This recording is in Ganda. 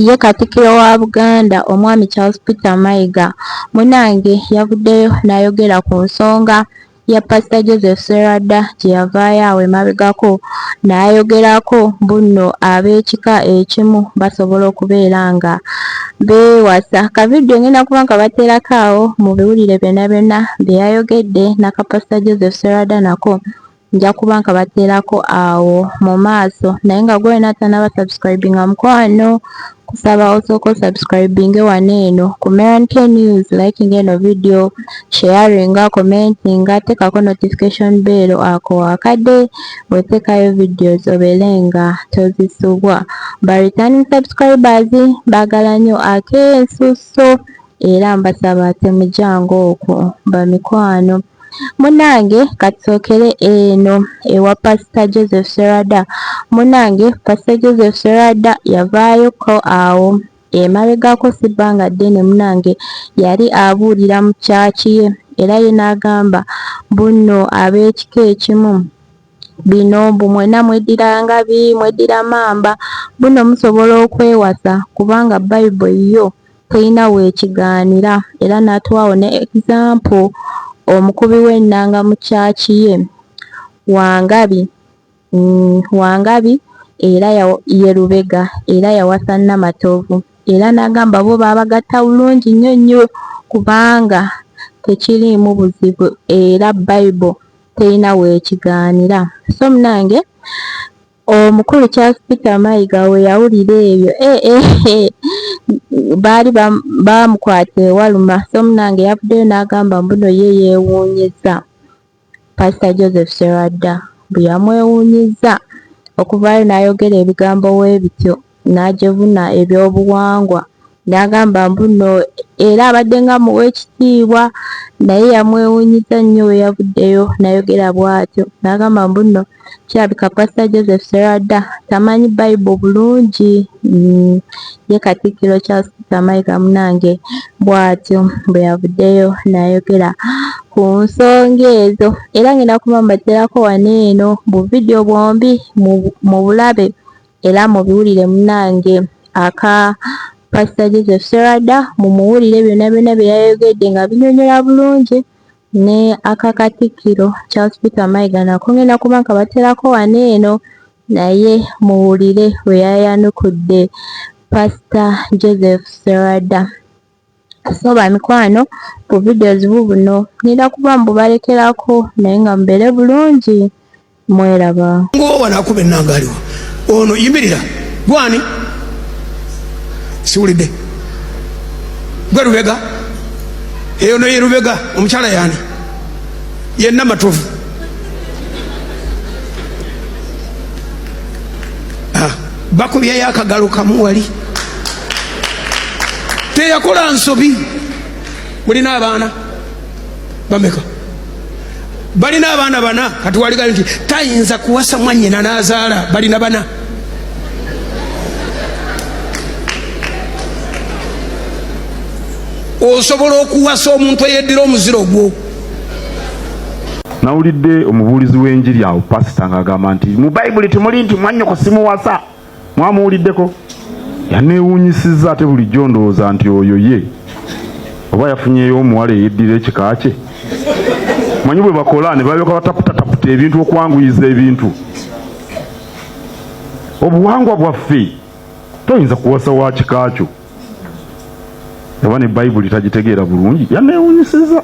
Ye Katikkiro wa Buganda Omwami Charles Peter Mayiga munange yavuddeyo nayogera ku nsonga ya Pastor Joseph Sserwadda gyeyavaayo awo emabegako nayogerako bunno ab'ekika ekimu basobola okubeera nga beewasa. Ka vidiyo ngenda kuba nkabateerako awo mubiwulire byonna byonna byeyayogedde naka Pastor Joseph Sserwadda nako nja kuba nkabateerako awo mu maaso naye nga gwe wena atanaba subscribinga mukwano kusaba osooka osubscribinge wano eno ku Meran K News likinga eno video sharinga commentinga tekako notification bell ako wakade wetekayo videos obeere nga tozisubwa ba returning subscribers bagala nyo akensuso era mbasaba temujango okwo bamikwano Munange katusookere eno ewa pastor Joseph Serwada munange pastor Joseph Serwada yavaayo ko awo emabegako si bbanga ddene munange yali abuulira mu church ye era ye n'agamba bunno ab'ekika ekimu bino mbu mwena mweddira ngabi mweddira mamba bunno musobola okwewasa kubanga bible yo Teyina wekigaanira era natuwaawo ne example omukubi w'ennanga mu church ye Wangabi Wangabi era ye Lubega era yawasa Namatovu era nagamba bo babagatta bulungi nnyo nnyo kubanga tekiriimu buzibu era Bible teyina wekigaanira so munange Omukulu Charles Peter Mayiga we yawulira ebyo eh, eh, eh, baali bamukwata ewaluma, so munange yavuddeyo n'agamba mbuno ye yeewuunyizza Pasita Joseph Serwadda bwe yamwewuunyizza okuvaayo n'ayogera ebigambo w'ebityo n'ajevuna ebyobuwangwa N'agamba mbu nno era abadde nga amuwa ekitiibwa naye yamwewuunyizza nnyo bwe yavuddeyo nayogera bwatyo n'agamba mbu nno kirabika Pasita Joseph Sserwadda tamanyi Bible bulungi mm ye Katikkiro Charles Peter Mayiga munange bwatyo bwe yavuddeyo nayogera ku nsonga ezo era ngenda kuba mbaterako wano eno bu vidiyo bwombi mubulabe. Era mubiwulire munange aka Pastor Joseph Serada mumuwulire byona byona byeyayogedde nga binyonyola bulungi ne aka Katikkiro Charles Peter Mayiga nako ngenda kuba nkabaterako wano eno naye muwulire weyayanukudde Pastor Joseph Serada. so bamikwano bu videos bubuno nina kuba mbubalekerako naye nga mubere bulungi mweraba ngowanakuba enangaliwo ono yimirira gwani siwulidde gwe lubega eyo noye lubega omukyala yani yenna matovu ah. bakubyeyo akagalo kamu wali teyakola nsobi mulina abaana bameka balina abaana bana kati waligayo nti tayinza kuwasa mwanyina nazaala balina bana osobola okuwasa omuntu eyeddira omuziro gwo Nawulidde omubuulizi w'enjiri awo pasita ng'agamba nti mu bayibuli temuli nti mwanyoko simuwasa mwamuwuliddeko yaneewuunyisizza ate bulijjo ndowooza nti oyo ye oba yafunyeyo omuwala eyeddira ekika kye manyi bwe bakola ne balyoka bataputataputa ebintu okwanguyiza ebintu obuwangwa bwaffe toyinza kuwasa wa kika kyo oba ne bayibuli tagitegeera bulungi yaneewuunyisizza